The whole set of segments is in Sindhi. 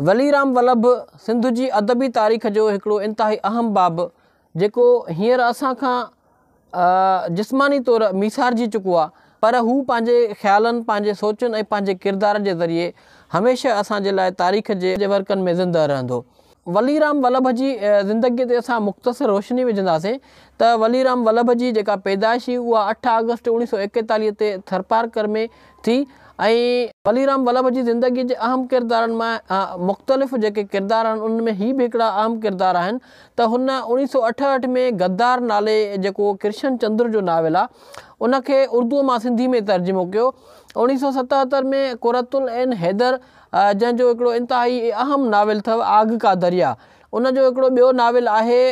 ولي رام ولڀ سنڌ جي ادبي تاريخ جو هڪڙو انتهائي اهم باب جيڪو هينئر اسان کان جسماني طور ميسارجي چڪو آ پر هو پنهنجي خيالن، پنهنجي سوچن ۽ پنهنجي ڪردار جي ذريعي هميشه اسان جي لاء تاريخ جي ورقن ۾ زنده رهندو. ولي رام ولڀ جي زندگيء تي اسان مختصر روشني وجهنداسين ته ولي رام ولڀ جي جيڪا پيدائش هئي اها اٺ آگسٽ اوڻيهه سؤ ايڪيتاليهه تي ٿرپارڪر ۾ ٿي ۽ علي رام ولڀ جي زندگي جي اهم ڪردارن مان مختلف جيڪي ڪردار آهن انهن ۾ هي به هڪڙا اهم ڪردار آهن ته هن اوڻيهه سؤ اٺهٺ ۾ غدار نالي جيڪو ڪرشن چندر جو ناول آ ان کي اردوء مان سنڌي ۾ ترجمو ڪيو اوڻيهه سؤ ستهتر ۾ قرت العين حيدر جنهن جو هڪڙو انتهائي اهم ناول اٿو آگ ڪا دريا ان جو هڪڙو ٻيو ناول آهي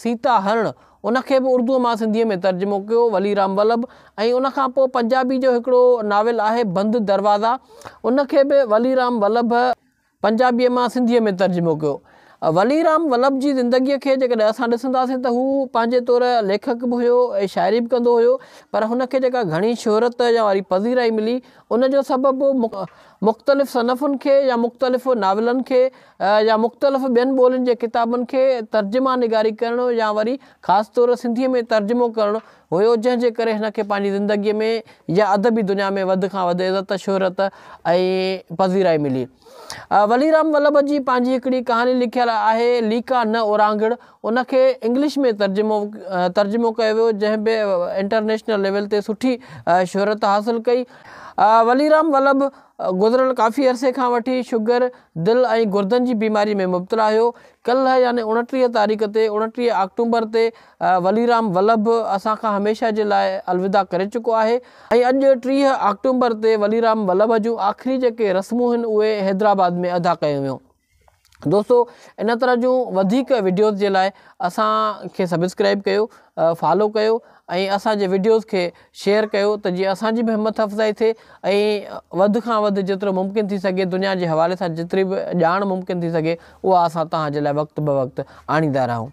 سيتا هرڻ ان کي به اردوء مان سنڌيء ۾ ترجمو ڪيو ولي رام ولڀ ۽ ان کان پوء پنجابي جو هڪڙو ناول آهي بند دروازا ان کي به ولي رام ولڀ پنجابيء مان سنڌيء ۾ ترجمو ڪيو. ولي رام ولڀ جي زندگيء کي جيڪڏهن اسان ڏسنداسين ته هو پنهنجي طور ليکڪ به هيو ۽ شاعري به ڪندو هيو پر هن کي جيڪا گهڻي شهرت يا واري پذيرائي ملي ان جو سبب مختلف صنفن کي يا مختلف ناولن کي يا مختلف ٻين ٻولين جي ڪتابن کي ترجما نگاري ڪرڻ يا وري خاص طور سنڌيء ۾ ترجمو ڪرڻ هيو جنهن جي ڪري هن کي پنهنجي زندگيء ۾ يا ادبي دنيا ۾ وڌ کان وڌ عزت شهرت ۽ پذيرائي ملي. ولي رام ولڀ جي پنهنجي هڪڙي ڪهاڻي لکيل آهي ليڪا نه اورانگهڙ ان کي انگلش ۾ ترجمو ترجمو ڪيو ويو جنهن به انٽرنيشنل ليول تي سٺي شهرت حاصل ڪئي ولي رام ولڀ گذريل ڪافي عرصي کان وٺي شگر، دل ۽ گردن جي بيماري ۾ مبتلا هيو. ڪلهه يعني اوڻٽيهه تاريخ تي، اوڻٽيهه آڪٽومبر تي، وليرام ولڀ اسان کان هميشه جي لاء الوداع ڪري چڪو آهي ۽ اڄ ٽيهه آڪٽومبر تي وليرام ولڀ جون آخري جيڪي رسمون هن اهي حيدرآباد ۾ ادا ڪيون ويون. دوستو ان طرح جون وڌيڪ وڊيوز جي لاء اسان کي سبسڪرائب ڪيو فالو ڪيو ۽ اسانجي وڊيوز کي شيئر ڪيو ته جيئن اسانجي به همٿ افزائي ٿئي ۽ وڌ کان وڌ جيترو ممڪن ٿي سگهي دنيا جي حوالي سان جيتري به ڄاڻ ممڪن ٿي سگهي اها اسان توهان جي لاء وقت بوقت آڻيندا رهون